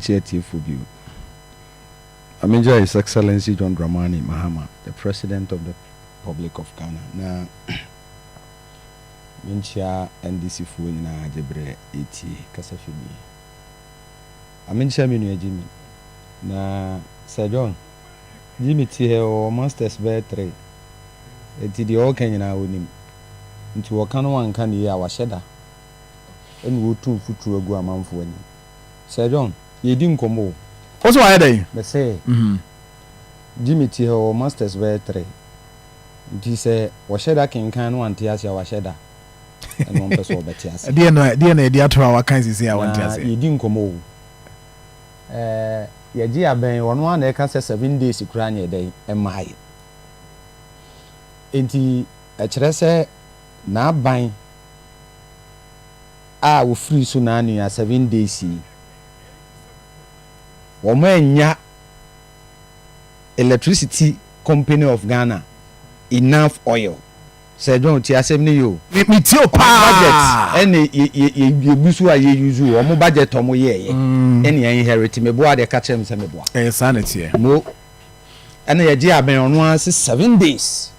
Tie atiefo bio. Na megyae His Excellency John Dramani Mahama, the President of the Republic of Ghana, na menkyia NDC foɔ nyinaa gye berɛ retie kasafidie yi. Na menkyia me nua Jimmy. Na Sir John, Jimmy te ha yi ɔwɔ masters bɛyɛ three, nti deɛ ɔreka nyinaa ɔnim. Nti wɔka no wanka no yie a wahyɛ da ɛna ɔretu mfuturo agu amanfoɔ anim. Sir John, yɛredi nkɔmmɔ o. Wo so wayɛ dɛn? Mese, Jimmy te hɔ, ɔwɔ Masters bɛyɛ three. Nti sɛ ɔhyɛ da kenkan na wante aseɛ a, wahyɛ da. Ɛna ɔmpɛ sɛ ɔbɛte aseɛ. Ɛdeɛn na, ɛdeɛn na yɛde ato hɔ a wakan seesei a wante aseɛ? Na yɛredi nkɔmmɔ o. Ɛɛ, yɛgye abɛn, ɔno ara na ɛka sɛ seven days koraa na ɛdɛn, ɛmmaeɛ. Enti ɛkyerɛ sɛ n'aban. a wɔfirii so nanea seven days yi, wɔannya Electricity Company of Ghana enough oil. Sir John, tie asɛm no yie o. Me tie o paa. Wɔn budget ɛne yɛ yɛ yɛgu so a yɛ use wɔn budget a wɔn yɛɛyɛ ɛne yɛ inherit. Me boa deɛ ka kyerɛ me sɛ me boa. Ɛyɛ saa na ɛteɛ. Mo ɛna yɛgye abɛn ɔno ara se seven days.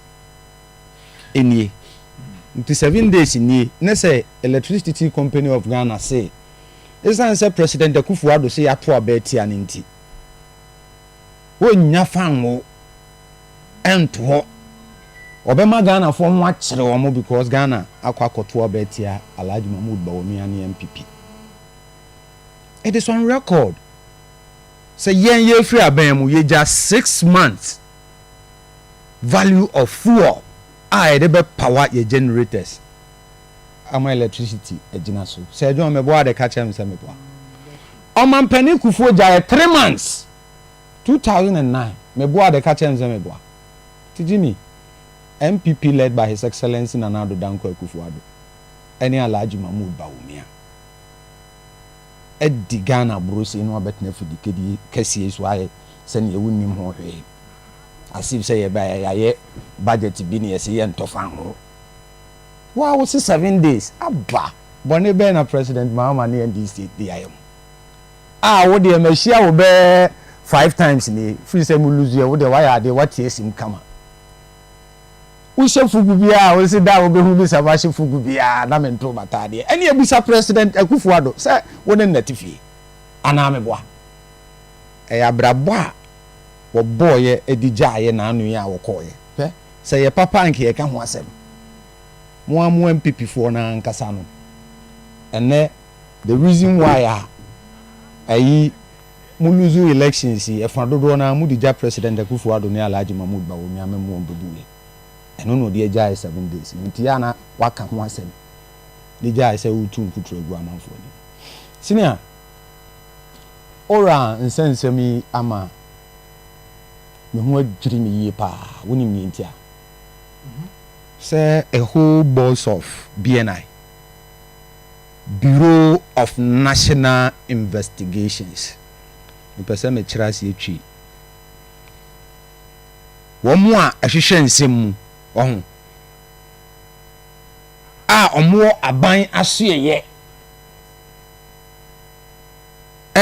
nie nti seven days nie ne sɛ electricity company of Ghana se esiane sɛ President Akufo Addo se yɛato aba atia no nti wɔnnya fanwo nto hɔ wɔbɛma Ghanafoɔ ho akyere wɔn because Ghana akɔ akɔto aba atia Alhaji Mahmood Bawumia ne NPP. It is on record sɛ yɛn yɛfiri abɛn mu yɛgya six months value of fuel a yɛde bɛ power yɛ generators ama electricity agyina so sɛ ɛdwom meboa de ka kyerɛ me sɛ meboa ɔmampanin kufuo gyaeɛ three months two thousand and nine meboa de ka kyerɛ me sɛ meboa titi mi npp led by his excellence nana ado danko akufo ado ɛne alhaji mahmood bawumia. adi Ghana aburosei no abɛtena fidikadi kɛseɛ yi so ayɛ sɛ neɛ wonnim ho hwee as if sɛ yɛbaeɛ yɛayɛ budget bi na yɛse yɛntɔ fa nho. Wo a wose seven days aba bɔne bɛn na President Mahama ne NDC de ayɛ mo a wo deɛ mahyia wo bɛɛ five times nie firi sɛ mo lose ɛ wo deɛ wayɛ adeɛ wate asim kama. Wohyɛ fugu biara a wonsi da a wobehu me sɛ mahyɛ fugu biara na mentow m'ataadeɛ. Ɛnneɛ bisa President Akufo-Addo sɛ wo ne no nate fie anaa meboa? Ɛyɛ abrabɔ a wɔbɔɔeɛ de gyaeɛ naano yi a wɔkɔɔeɛ. Hwɛ, sɛ ɛyɛ papa a anka yɛreka ho asɛm. Mo ara mo NPP foɔ no ankasa no, ɛnnɛ the reason why a ayi Mo lose elections yi ɛfa dodoɔ no ara mode gya president Akuffo Addo ne Alhaji Mahmood Bawumia mem wɔn bɛbuiɛ ɛno na ɔde agyaeɛ seven days no nti ana waka ho asɛm de gyaeɛ sɛ woretu nkuturo agu amanfoɔ anim senea Owura Nsɛnsɛm yi ama me ho adwiri me yie paa wonim neɛ nti a sɛ a whole boss of BNI. Bureau of National Investigations, mepɛ sɛ mekyerɛ aseɛ twi wɔn a ɛhwehwɛ nsɛm mu, wahu, a wɔwɔ aban asoɛeɛ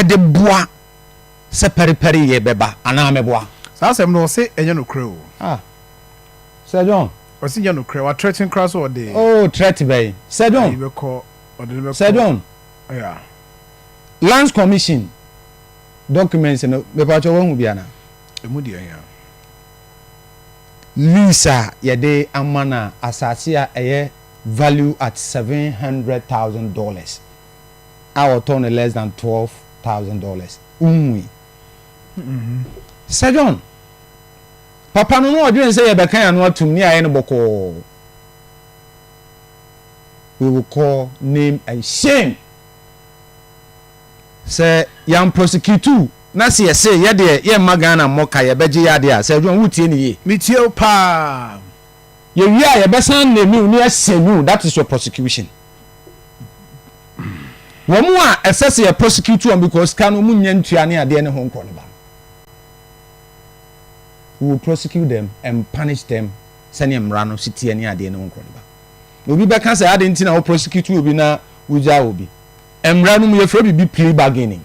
de boa sɛ pɛrepɛreyɛ bɛba anaa mɛboa. Saa asɛm no ɔse ɛnyɛ nokorɛ o. Sir John. Ɔsi nyɛ nokorɛ, wa threaten koraa sɛ ɔde. Oh threat bɛn? Sir John. Ayi bɛkɔ, ɔde no bɛkɔ. Sir John. Yeah. Lands commission documents no, mepatwɔ wahu bi anaa? Emu deɛ hia. Lease a yɛde ama no a, asase a ɛyɛ value at seven hundred thousand dollars a ɔtɔɔ no less than twelve thousand dollars, wonhui? Sir John. Papa no, na ɔdwene sɛ yɛbɛka yɛn ano atom na yɛayɛ no bɔkɔɔ. We will call name and shame. Sɛ yɛn prosecutu na sɛ yɛse yɛ deɛ yɛn mma Ghana mmɔ ka yɛbɛgye yɛ adeɛ a, Sir John wotie no yie? Me tie wo paa. Yɛ wie a yɛbɛsan name wo ne asɛn wo, that is your prosecution. Wɔn a ɛsɛ sɛ yɛ prosecute wɔn because sika no wɔn nnya ntua ne adeɛ ne ho nkɔ no ba no. we will prosecute them and punish them sɛdeɛ mmara no si teɛ ne adeɛ ne wo nkɔniba. Obi bɛka sɛ ade nti na wo prosecute obi na wogyaa obi. Mmara no mu yɛfrɛ biribi plea bargaining.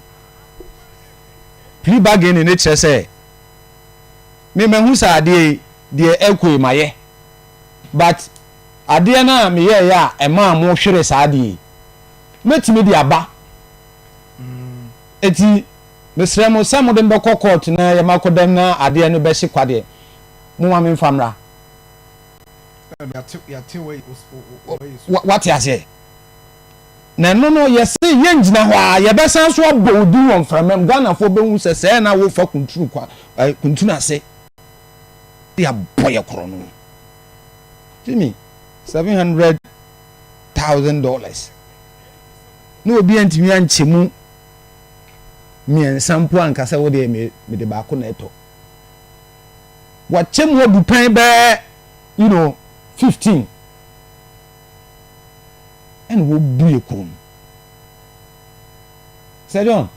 Plea bargaining ne kyerɛ sɛ me mahu sɛ adeɛ yi deɛ ɛkɔ yi mayɛ but adeɛ no a meyɛeɛ a ɛmaa mo hwere saa adeɛ yi mɛtumi de aba. Eti Mesrɛ mo sɛ mode me bɛkɔ kɔɔto na yɛma akɔdam na adeɛ no bɛhye kwa deɛ, momma memfa mmra. Woate aseɛ? Na ɛno no, yɛse yɛngyina hɔ ara, yɛbɛsan nso abɔ wo din wɔ mframam. Ghanafoɔ bɛhu sɛ sɛɛ na wofa kuntunu kwa, eh, kuntunu ase de abɔ yɛ korɔ no. Jimmy, seven hundred thousand dollars. Na obi antumi ankyɛ mu. mmiɛnsa mpo a nka sɛ wo deɛ me mede baako na ɛtɔ wakyɛ mu abu pɛn bɛɛ you know fifteen ɛna wɔbue kɔn mu sɛ john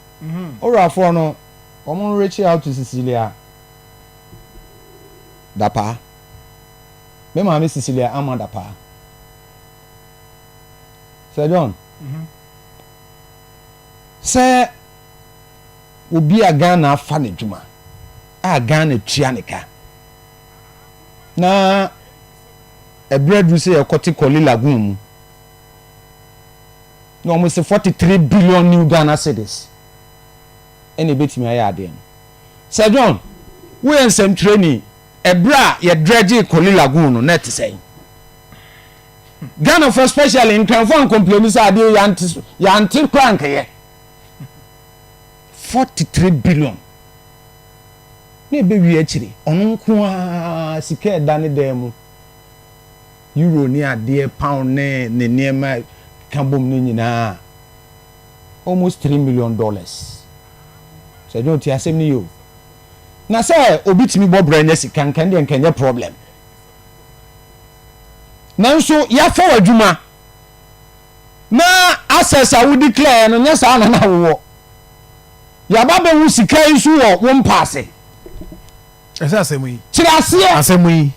ɔwurafoɔ no wɔn reach out to cecilia dapaa me maame cecilia ama dapaa sɛ john. Mm -hmm. sɛ obi a Ghana afa no adwuma a Ghana tua ne ka na ɛberɛ aduru sɛ yɛkɔte Korle Lagoon mu na wɔn se 43 billion new Ghana cedis ɛna ɛbɛtumi ayɛ adeɛ no Sir John woyɛ nsɛmtwerɛni ɛberɛ a yɛdrɛgyee Korle Lagoon no na ɛte sɛn? Ghanafoɔ especially nkranfoɔ ankompleni sɛ adeɛ yɛante yɛante koraa nkɛyɛ forty three billion na ɛbɛwie akyiri ɔno nko ara sika ɛda ne dan mu euro ne adeɛ pound ne ne nneɛma ka bom no nyinaa almost three million dollars sɛ ɛdɛ ɔte asɛm no yɛ o na sɛ obi tumi bɔ brɛ nya sika nka ɛdeɛ nka ɛnyɛ problem nanso yɛafa w'adwuma na access a wodi klɛɛ no nyɛ saa na na wowɔ yɛaba bɛhu sika yi so wɔ wo mpa ase ɛsɛ asɛm yi kyerɛ aseɛ asɛm yi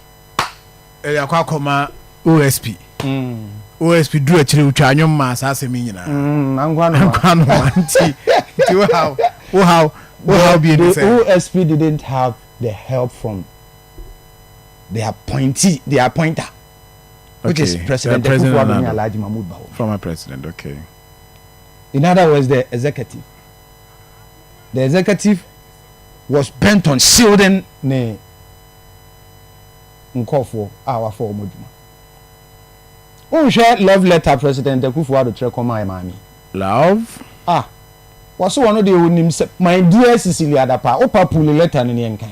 ɛyɛ akɔ akɔma osp mm. osp duru akyire wotwa anwom ma saa asɛm yi nyinaa mm, ankwa no nti nti wohaw wohaw wohaw bi ɛni sɛ osp didn't have the help from they appointee they appointer which okay. is president uh, president Nana, Alhaji Mahmoud Bawo former president okay in other words the executive the executive was bent on shielding ne nkɔfoɔ a wafa wɔn adwuma wohwɛ love letter president akufo ado kyerɛ kɔma ɛ maame love ah wɔso wɔn deɛ wɔnim sɛ my dear cecilia dapa wopa puli letter no neɛ nkan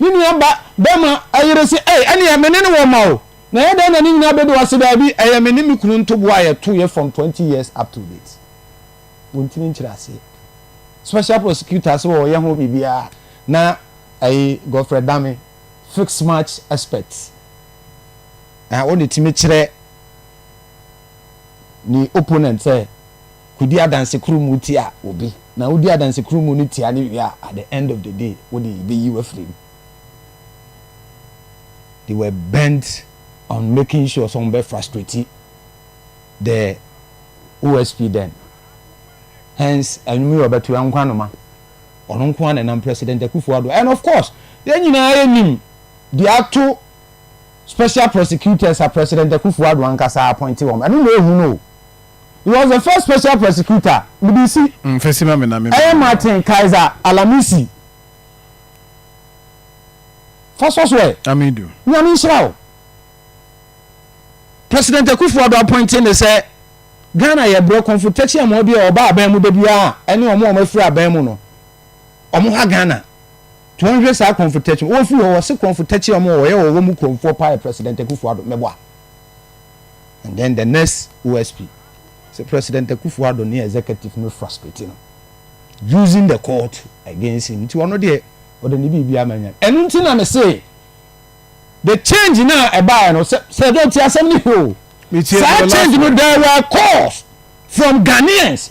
Ne nua ba bɛma ayere se ei ɛneɛ me ne no wɔ mma o na ɛyɛ dɛn na ne nyinaa bɛdu hɔ se daabi ɛyɛ me ne me kunu ntoboa a yɛto yɛ from twenty years up to date wɔntimi nkyere aseɛ special prosecutor se wɔyɛ ho biribiara na ɛyi Godfrey Dame fix match expert na ɔna timi kyerɛ ne opponent sɛ. Kodi adanse koro mu tia obi, na wudi adanse koro mu no tia no wie a, at the end of the day, wode yebeyi wo afiri mu. They were bent on making sure sɛ wɔbɛ frustrate the OSP then. Hence, ɛnwom yi a ɔbɛto yɛ nkwanoma. Ɔno nko ara na ɛnam President Akufo-Addo. And of course, yɛn nyinaa yɛnim deɛ ato Special Prosecutors a President Akufo-Addo ankasa appointe wɔn. Ɛno na ehu no o. He was the first special prosecutor, mede si. Mfesi ma me na me Ɛyɛ Martin Kaiser Alamisi. Fa sɔ so ɛ. Amidu. Nyame nhyira wo. President Akufo Addo appointing ne sɛ Ghana yɛ brɛ kɔnfo tɛkyi amoa bi a ɔba aban mu da biara a ɛne wɔn a wɔn afiri aban mu no wɔn ha Ghana to wɔn hwɛ saa kɔnfo tɛkyi wɔn firi hɔ wɔse kɔnfo tɛkyi wɔn wɔyɛ wɔn wɔn mu kɔnfoɔ paa yɛ President Akufo Addo mɛboa and then the next OSP sɛ President Akufo Addo ne executive no frustrate no using the court against him nti ɔno deɛ ɔde ne biribi ama nya ɛno nti na me se the change na ɛbaeɛ no sɛ sɛ ɛdɔ ti asɛm ne hwɛ o saa change no there were calls from Ghanaians